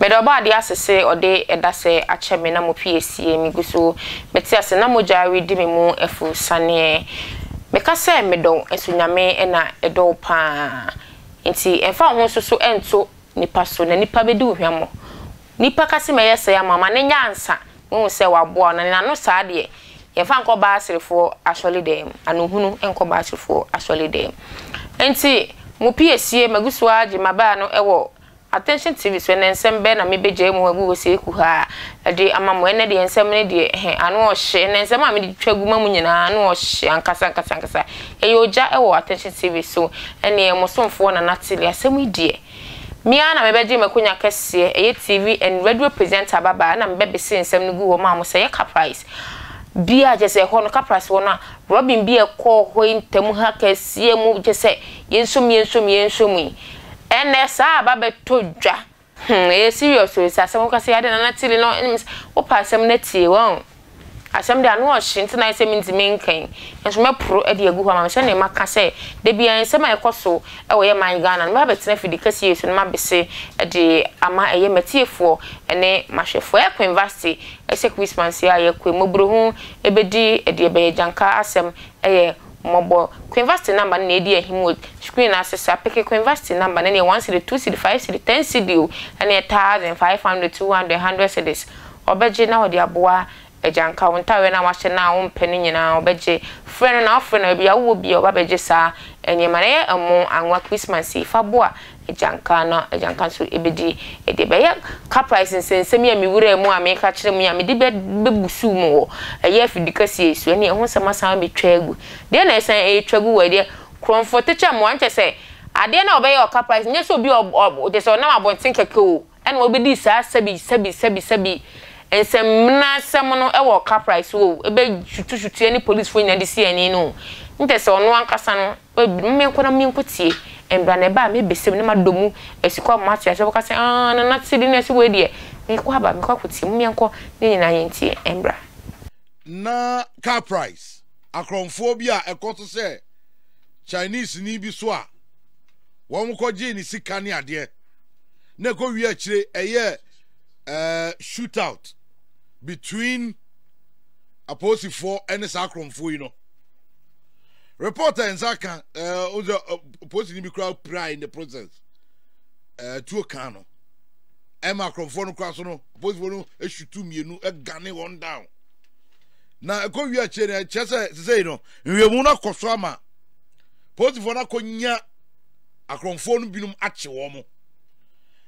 Meda Ɔbɔadeɛ ase sɛ ɔde ɛda sɛɛ akyɛ me na mo fie asie. Migu so mete ase na mogya redi me mu afu saneɛ. Meka sɛ medɔ wo nso Nyame na ɛdɔ wo paa. Nti ɛmfa wo ho nso so nto nipa so na nipa bɛdi wo hwammɔ. Nipa ka se mɛyɛ sɛɛ ama wo ma no nyɛ ansa mehu sɛ waboa wo na nena no saa deɛ yɛmfa nkɔ Baaserefoɔ asɔledɛɛm ano hunu nkɔ Baaserefoɔ asɔledɛɛm nti mo pie sie magu so ara gye mabaa no wɔ Attention TV so ɛnɛ nsɛm bɛɛ na mebɛgyae mu agu hɔ sei kuhaa de ama mo ɛnɛ deɛ nsɛm no deɛ ɛhɛ ano ɔhye ɛnɛ nsɛm a mede twa gu ma mo nyinaa ano ɔhye ankasa ankasa ankasa ɛyɛ ogya wɔ Attention TV so ɛneɛ mo somfoɔ Nana Tilly asɛm yi deɛ Me ara na mebɛgye m'akonya kɛseɛ, ɛyɛ TV and radio presenter babaa, ɛna mebɛbese nsɛm no gu hɔ maa mo sɛ yɛ car price bi a, kyerɛ sɛ ɛhɔ no car price wɔ no a, robbing bi a ɛkɔɔ hɔ yi ntam ha kɛseɛ mu, kyerɛ sɛ yɛnso mu, yɛnso mu, yɛnso mu yi, ɛnnɛ saa aba abɛtɔ dwa, hmm ɛyɛ serious o, sɛ asɛm wokasɛ adɛn na na Tilly no, wo pɛ asɛm no atie, wahu. Asɛm de, ano ɔhye, nti na ayɛ sɛ mintumi nka yi, nanso mɛporo de agu hɔ ama me sɛnea maka sɛ da biara nsɛm a ɛkɔ so wɔ yɛn man Ghana no, mɛbɛtena afidi kɛseɛ yi so na mabɛse de ama ɛyɛ m'atiefoɔ ne m'ahwɛfoɔ. Ɛyɛ Queenvasty, ɛsɛ Christmas yi a yɛkɔ yi, mmɔborɔhu bɛdi deɛ ɛbɛyɛ, Gyanka asɛm yɛ mmɔbɔ. Queenvasty number no na ɛredi ahim wɔ screen no ase saa, peke Queenvasty number no, ɛneɛ one cedi, two cedi, five cedi, ten cedi o, ɛneɛ thousand, five hundred, two hundred, hundred cedis. Ɔbɛgye na ɔde aboa agyanka wo ntadeɛ no a woahyɛ no a wompɛ no nyinaa, ɔbɛgye. Frɛ no na wafrɛ no, baabi a wowɔ biara ɔba bɛgye saa nneɛma no. Yɛ ɛmo anwa Christmas yi, fa boa agyanka na agyanka nso bɛdi deɛ ɛbɛyɛ. Caprice nsɛnsɛm yi a mewuraa mu a meka kyerɛ mo yi a mede bɛbusuu mo wɔ ɛyɛ afidikɛseɛ yi so, ɛnneɛ ɛho nsɛm asan abɛtwa agu. Deɛ na ɛsan retwa gu wɔ ɛdeɛ? Korɔmfoɔ-tikya mmoa, ɛnkyerɛ sɛ adeɛ no a wɔbɛyɛ wɔ Caprice no, ɛnyɛ sɛ obi a ɔbɔ, kyerɛ sɛ ɔnam abɔnten kɛkɛ oo, na wobedii saa sɛbi-sɛbi-sɛbi-sɛbi nsɛmmenasɛm no wɔ Caprice hɔ o, bɛ sutusutuɛ ne polisifo nyinaa de sii ani no o, ntɛ sɛ ɔno ankasa no, ma menkɔ na menkotie, mbra na ɛbaa a mebesɛ mu na madɔ mu asi kɔ ama moate aseɛ, ɔbɛka sɛ, Aah, Nana Tsebi na ɛse wei deɛ, mekɔ aba, mekɔ akotie, mom yɛnkɔ ne nyinaa yɛntie mbra. Ná Caprice akorɔmfoɔ bi a ɛkɔ so sɛ Chineseni bi so a wɔkɔgyee ne sika ne adeɛ. na ɛkɔ wie akyire ɛyɛ ɛɛ eh, shoot out between apolisifoɔ ɛne saa akorɔmfoɔ yi no report a nsa ka ɛɛ eh, ɔsɛ eh, polisi ni bi kura pira in the process ɛɛ tuo kan no ɛma akorɔmfoɔ no kura so no apolisifoɔ no esutu mmienu ɛgane wɔn down na ɛkɔ wie akyire no ɛkyɛ sɛ sisei no nwiemu no akɔ so ama polisifoɔ no akɔ nya. akorɔmfoɔ no binom akye wɔn.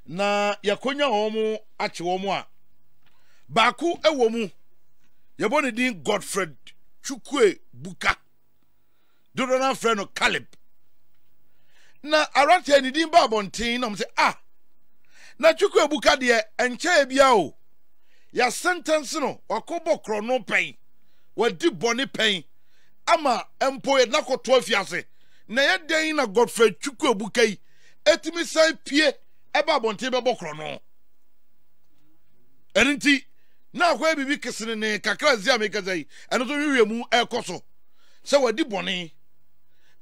Na yɛakɔnya wɔn akye wɔn a, baako wɔ mu, yɛbɔ ne din Godfred Chukwue Buka. Dodoɔ no afrɛ no Caleb. Na aberanteɛ ne din baa abɔnten na wɔn sɛ, ah, na Chukwue Buka deɛ nkyɛɛ biara o, yɛasentɛnse no, wakɔbɔ korɔno pɛn, wadi bɔne pɛn, ama mpo yɛde no akɔto afiase. Na ɛyɛ dɛn na Godfred Chukwuebuka yi atumi san pue ɛba abɔnten bɛbɔ korɔ no? Ɛno nti, na akɔyɛ biribi kesenenee kakra nsi a mekasa yi, ɛno nso nhwehwɛ mu ɛrekɔ so sɛ wadi bɔne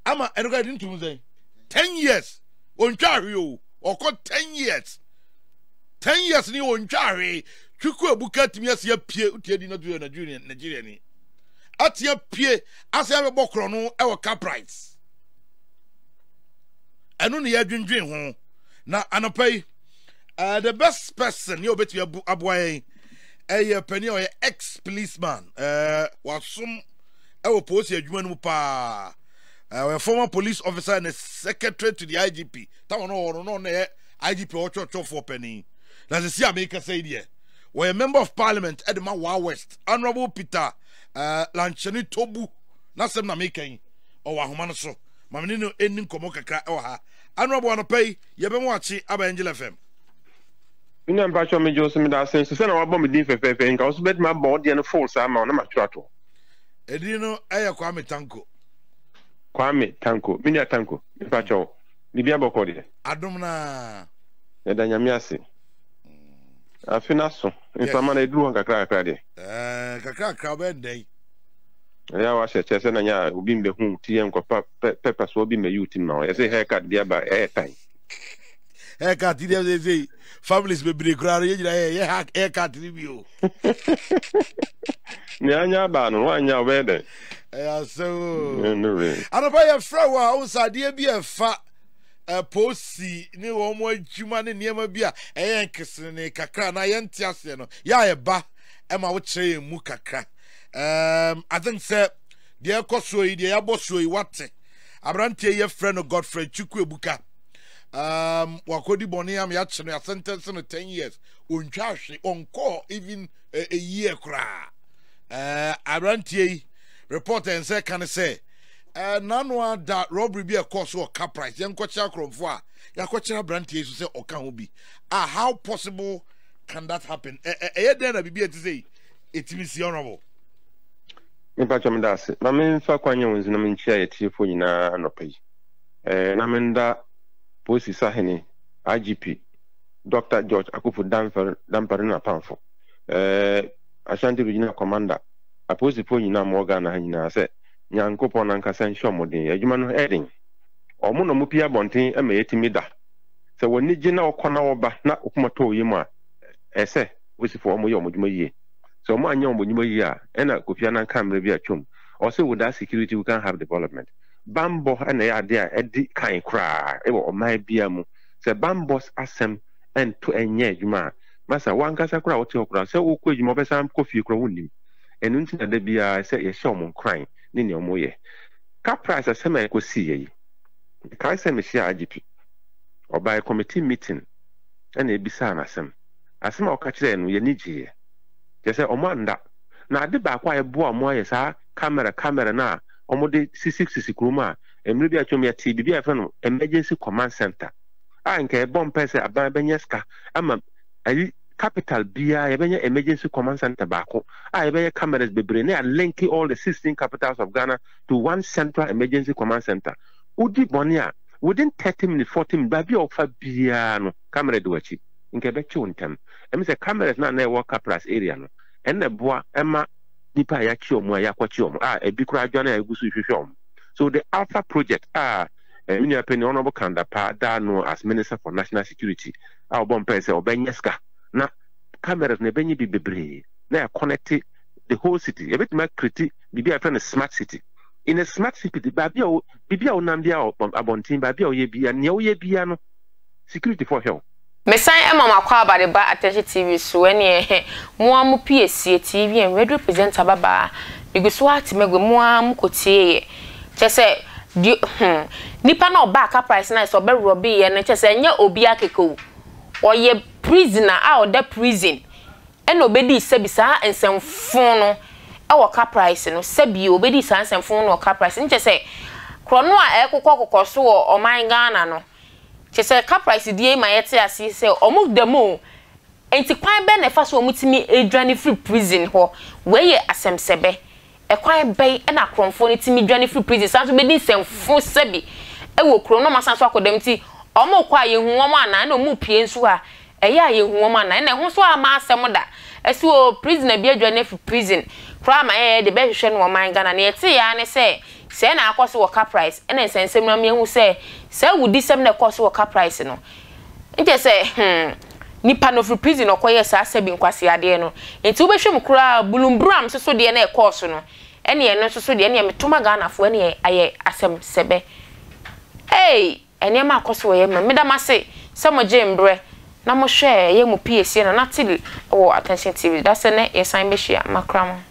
ama ɛno kora de ntom sɛn? Ten years, ɔntwa ahwe o, ɔkɔ ten years. Ten years ni ɔntwa ahwe, Chukwuebuka atumi asi apue, wotia di na to yɛ Nigeria ni, atia pue asɛ yɛabɛbɔ korɔno wɔ Caprites. Ɛno na yɛadwendwen ho. Na anɔpa yi, uh, the best person yɛ obetumi abu aboa yɛn ɛyɛ panin a ɔyɛ ex policeman uh, wasom ɛwɔ polisi adwuma no mu paa uh, ɔyɛ former police officer and secretary to the igp tawa no ɔwɔ no na ɔyɛ igp ɔtwɔtwɔfoɔ panin na sisi a mekasa yi deɛ wɔyɛ member of parliament ɛde ma waa west honourable peter ɛɛ Lankyɛne Tobu n'asɛm na meka yi. Ɔwɔ ahoma no so. Ma me ne no nni nkɔmmɔ kakra wɔ ha. Annuabo anɔpa yi, yɛbɛma wakye aba Angel FM. Me nua mpakyɛw megye wo so meda ase nso sɛ na wabɔ me din fɛfɛɛfɛ yi nka wo so bɛtumi abɔ wo deɛ no full saa ma wo na matwerɛ ato hɔ Edin no ɛyɛ Kwame Tanko. Kwame Tanko. Me nua Tanko, mpakyɛw, biribi abɔkɔ deɛ? Adom no ara. Yɛda Nyame ase. Afe no aso. Nsama na eduru hɔ nkakrakakra deɛ. Ɛɛ nkakrakra ɔbɛyɛ nnɛn. Ɛyɛ a wahyɛ kyɛ sɛ na nyɛ a obi mbɛhu ti yɛ nkɔpa pɛ pɛpa so obi mbɛyi ti ma wo. Yɛsɛ haircut bi aba ɛyɛ tan. Haircut deɛ sɛ sɛ families bebree koraa no yɛ nyinaa yɛ yɛ haircut no bi o. Nea anya aba no wanya ɔbɛyɛ dɛn? Ɛyɛ asɛm o. Anɔpa yɛfrɛ wo a wo nsa adeɛ bi ɛfa ɛpo si ne wɔn adwuma ne nneɛma bi a ɛyɛ nkesenenee kakra na yɛnte aseɛ no yɛ a ɛba ɛma wokyerɛ yɛn mu kakra um, I think sɛ deɛ ɛkɔ soɔ yi deɛ yɛabɔ soɔ yi wate aberanteɛ yi yɛfrɛ no Godfrey Chukwu Ebuka um, wakɔdi bɔne am yɛakye no yɛasɛntɛnse no 10 years ɔntwa ahwe ɔnkɔɔ even a, a year koraa uh, aberanteɛ yi report ɛnsɛ ka ne sɛ Ɛnanoa da robbery bi a ɛkɔɔ so wɔ Caprice, yɛnkɔkyerɛ akorɔmfo a yɛakɔkyerɛ aberanteɛ yi so sɛ ɔka ho bi a how possible can that happen? Ɛ- ɛ- Ɛyɛ dɛn na biribi a ɛte sɛ yi ɛtumi si honorable? Mepakyɛ meda ase. Ma memfa kwan nyɛ wo nso na menkyia yɛtiefoɔ nyinaa anɔpa yi. Eh, na menda Polisi Sahene IGP Dr. George Akufu Damfer Dampare ne n'apamfo, eh, Ashanti Regional Commander, apolisifoɔ nyinaa ma wɔ Ghana ha nyinaa sɛ Nyankopɔn ankasa nhyɛ wɔn den. Adwuma no yɛ den. Wɔn na wɔpue abɔnten ma yɛtumi da. Sɛ wɔn ani gye na wɔkɔ na wɔba na wɔn koma tɔ wɔn yam a, ɛsɛ sɛ wosi fo wɔyɛ wɔn adwuma yie. Sɛ wɔanyɛ wɔn adwuma yie a, ɛna Kofi Annan kaa mmerɛ bi atwam, ɔse without security we can't have development. Bammɔ na ɛyɛ adeɛ a ɛdi kan koraa wɔ ɔman biara mu. Sɛ bammɔ asɛm nto nyɛ adwuma a, masa wo ankasa koraa a wote hɔ koraa, sɛ wokɔ adwuma a wobɛsan akɔ fie koraa wonnim. Ɛno nti na da biara ɛsɛ sɛ yɛhyɛ wɔn nkuran ne nea wɔyɛ. Ka price asɛm a ɛkɔ siiɛ yi. Mekae sɛ mehyiaa IGP. Ɔbaeɛ committee meeting ɛna ɛbisaa no asɛm. Asɛm a ɔka kyerɛɛ no yɛn ani gyeeɛ. Kyerɛ sɛ wɔn annda. Na ade baako a ɛboaa wɔn ayɛ saa camera camera no a wɔde sisi sisi kuro mu a mmerɛ bi atwam yɛtee biribi a yɛfrɛ no emergency command center a nka ɛbɔ mpae sɛ aban bɛnya sika ama ayi Capital biara yɛbɛnya emergency command centre baako a yɛbɛyɛ cameras bebree na yɛalinke all the sixteen capitals of Ghana to one central emergency command centre. Wodi bɔne a, within thirty minutes, forty minutes, baabi a wofa biara no camera di w'akyi. Nka ɛbɛkye wo ntɛm. Ɛmi sɛ cameras no a na ɛwɔ Kapras area no, ɛno na ɛboa ma nnipa a yɛakye wɔn a yɛakɔkye wɔn a ebi koraa adwane a yɛgu so rehwehwɛ wɔn. So the Alpha project a me nua panin Honourable Kan Dapaah daa ano as Minister for National Security a ɔbɔ mpae sɛ ɔbɛnya sika na cameras na ɛbɛnya bi bebree na ɛkɔnɛte the whole city yɛbɛtumi akreti biribi a yɛfrɛ no smart city in a smart city baabi a biribi a wonam bia abɔnten baabi a woyɛ bia nea woyɛ bia no security fo hwɛ wo Mesan ɛma mo akɔ aba de ba attention TV so ɛneɛ hɛ mo ara mo piesie TV and radio presenter babaa megu so ara te magua mu ara mo kɔ tie yɛ. Kyerɛ sɛ, deɛ hmm, nipa no a ɔbaa Caprice no ayɛ sɛ ɔbɛrɔbeeɛ no, kyerɛ sɛ, ɛnyɛ obiara kɛkɛ o. Ɔyɛ prisoner a ɔda prison ɛna ɔbɛdii sɛbi saa nsɛm fon no wɔ Caprice no, sɛbi ɔbɛdii saa nsɛm fon no wɔ Caprice no. Kyerɛ sɛ, korɔno a ɛrekokɔ kɔkɔ so wɔ ɔman Ghana no, kyerɛ sɛ, Caprice deɛ yi ma yɛte aseɛ sɛ, wɔda mu o, nti kwan bɛn na ɛfa so a wɔtumi dwane firi prison hɔ? Wei yɛ asɛmsɛbɛ. Ɛkwan bɛn na akorɔmfoɔ no tumi dwane firi prison san nso bɛdi nsɛmfo sa bi wɔ kurom na wɔasan nso akɔ dɛm nti wɔkɔ a yɛhu wɔn anaa ɛna wɔn mu pie nso a ɛyɛ a yɛnhu wɔn anaa ɛna ɛho nso amma asɛm da ɛso oo prisoner bi adwane afiri prison koraa ma yɛyɛ de bɛhwehwɛ no wɔ ɔman Ghana nea yɛtee ara ne sɛ sɛɛ na akɔ so wɔ Caprice ɛna nsɛnsɛm no ama yɛahu sɛ saa awudisɛm na ɛkɔɔ so wɔ Caprice no Nkyɛ sɛ, hmm, nipa na ɔfiri prison na ɔkɔyɛɛ saa sɛbi nkwasea adeɛ no. Nti wobɛhwɛ mu koraa a, bulumburam nso so deɛ na ɛkɔɔ so no, ɛnneɛ ɛno nso so deɛ, ɛnneɛ meto ma Ghanafoɔ, ɛnneɛ ayɛ asɛm sɛbɛ. Ei! Nneɛma akɔ so wɔ yɛn mmerɛ mu. Meda mo ase sɛ mogyee me berɛ na mohwɛɛ ɛyɛ mo piesie na na te wɔ Attention TV. Dasɛ nnɛ yɛsan bɛhyia. Makra mo.